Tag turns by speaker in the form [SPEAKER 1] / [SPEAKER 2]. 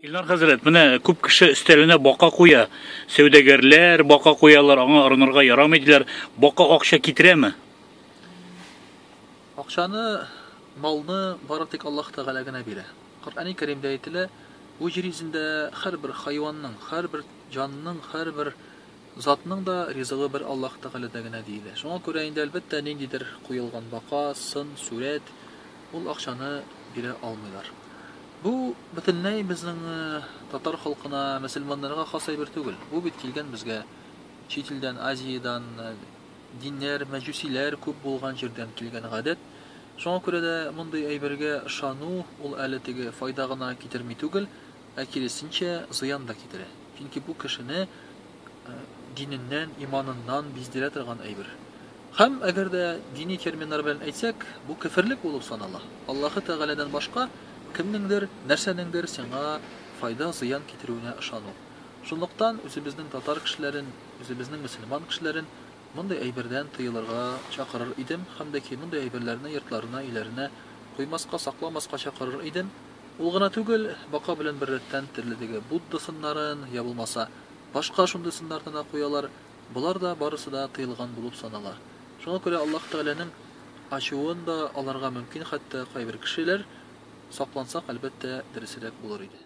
[SPEAKER 1] Илнар хәзрәт, менә күп кеше өстәленә бака куя. Сәүдәгәрләр бака куялар, аңа орынырга ярамый диләр. Бака акча китерәме?
[SPEAKER 2] Акчаны, малны бары тик Аллаһ Тәгалә генә бирә. Коръәни Кәримдә әйтелә, бу җир йөзендә һәрбер хайванның, һәрбер җанның, һәрбер Затның да ризыгы бер Аллаһ Тәгаләдә генә, диелә. Шуңа күрә инде, әлбәттә, ниндидер куелган бака, сын, сурәт, ул акчаны бирә алмыйлар. Бу бөтенләй безнең татар халкына, мөселманнарга хас әйбер түгел. Бу бит килгән безгә чит илдән, Азиядән, диннәр, мәҗүсиләр күп булган җирдән килгән гадәт. Шуңа күрә дә мондый әйбергә ышану, ул әле теге файда гына китерми түгел, ә киресенчә, зыян да китерә. Чөнки бу кешене диненнән, иманыннан биздерә торган әйбер. Һәм, әгәр дә дини терминнар белән әйтсәк, бу кеферлек булып санала. Аллаһы Тәгаләдән башка кемнеңдер, нәрсәнеңдер сиңа файда, зыян китерүенә ышану. Шунлыктан үзебезнең татар кешеләрен, үзебезнең мөселман кешеләрен мондый әйбердән тыелырга чакырыр идем һәм дә ки мондый әйберләрне йортларына, өйләренә куймаска, сакламаска чакырыр идем. Ул гына түгел, бака белән беррәттән терледеге Будда сыннарын, я булмаса, башка шундый сыннарны да куялар, болар да барысы да тыелган булып санала. Шуңа күрә Аллаһ Тәгаләнең ачуын да алырга мөмкин хәтта кайбер кешеләр, саклансак, әлбәттә, дөресрәк булыр иде.